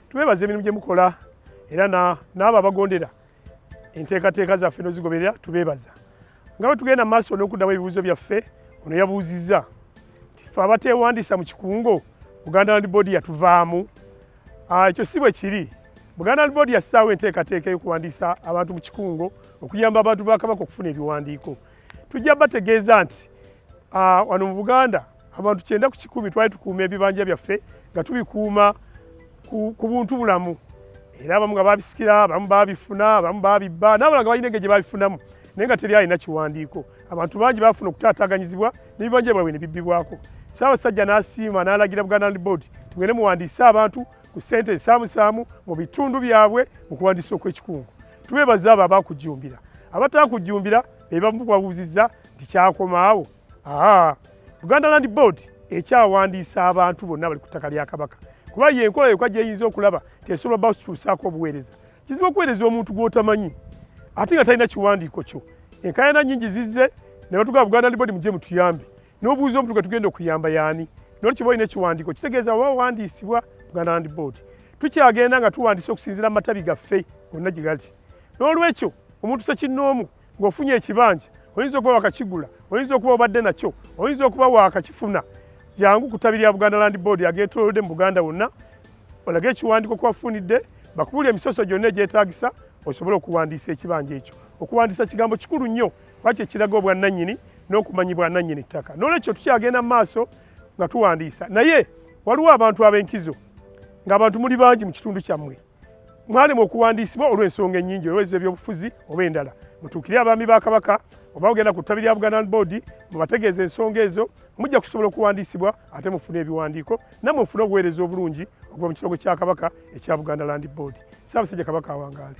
tubebaza emirimu gye mukola era n'abo abagondera enteekateeka zaffe nozigoberera tubeebaza nga bwe tugenda maaso n'okuddamu ebibuuzo byaffe ono yabuuzizza nti fe abateewandiisa mu kikungo buganda land board yatuvaamu ah, ekyo si bwe kiri buganda land board yassaawo enteekateeka ey'okuwandiisa abantu mu kikungo okuyamba abantu ba kabaka okufuna ebiwandiiko tujja bategeeza nti ah, wano mu buganda Abantu kyenda ku kikumi twali tukuuma ebibanja byaffe nga tubikuuma ku buntu bulamu era abamu nga babisikira abamu babifuna abamu babibba n'abalala nga balina engeri gye babifunamu naye nga teri alina kiwandiiko abantu bangi bafuna okutaataganyizibwa n'ebibanja byabwe ne bibbibwako ssaabasajja n'asiima n'alagira buganda land board tugende muwandiise abantu ku ssente ensaamusaamu mu bitundu byabwe mu kuwandiisa okw'ekikungu tubeebaza abo abakujjumbira abatakujjumbira be bamu babuuzizza nti kyakomaawo Aha, Buganda Land Board ekyawandiisa abantu bonna bali ku ttaka lya Kabaka kuba ye enkola yokka gyeyinza okulaba tesobola ba kukyusaako obuweereza. Kizibu okuweereza omuntu gw'otamanyi ate nga talina kiwandiiko kyo. Enkaayana nnyingi zizze ne batugamba Buganda Land Board mujje mutuyambe n'obuuza omuntu gwe tugenda okuyamba yaani. Nolwo kiba olina ekiwandiiko kitegeeza oba wawandiisibwa Buganda Land Board. Tukyagenda nga tuwandiisa okusinziira mu matabi gaffe gonna gye gali. N'olwekyo omuntu sekinnoomu ng'ofunye ekibanja oyinza okuba wakakigula oyinza okuba obadde nakyo oyinza okuba wakakifuna jangu ku ttabi lya buganda land board ageetolodde mu buganda wonna olage ekiwandiiko kubafunidde bakubuli emisoso gyonna egyetagisa osobole okuwandiisa ekibanja ekyo okuwandiisa kigambo kikulu nnyo kuba kyekiraga obwannannyini n'okumanyi bwannannyini ttaka n'olwekyo tukyagenda mu maaso nga tuwandiisa naye waliwo abantu ab'enkizo ng'abantu muli bangi mu kitundu kyammwe mwalema okuwandiisibwa olw'ensonga ennyingi olweza ebyobufuzi oba endala mutuukire abaami ba kabaka oba ogenda ku ttabi lya buganda boodi mubategeeza ensonga ezo mujja kusobola okuwandiisibwa ate mufune ebiwandiiko namwe mufune obuweereza obulungi okuva mu kirogo kya kabaka ekya buganda land boodi saabasajja kabaka awangaale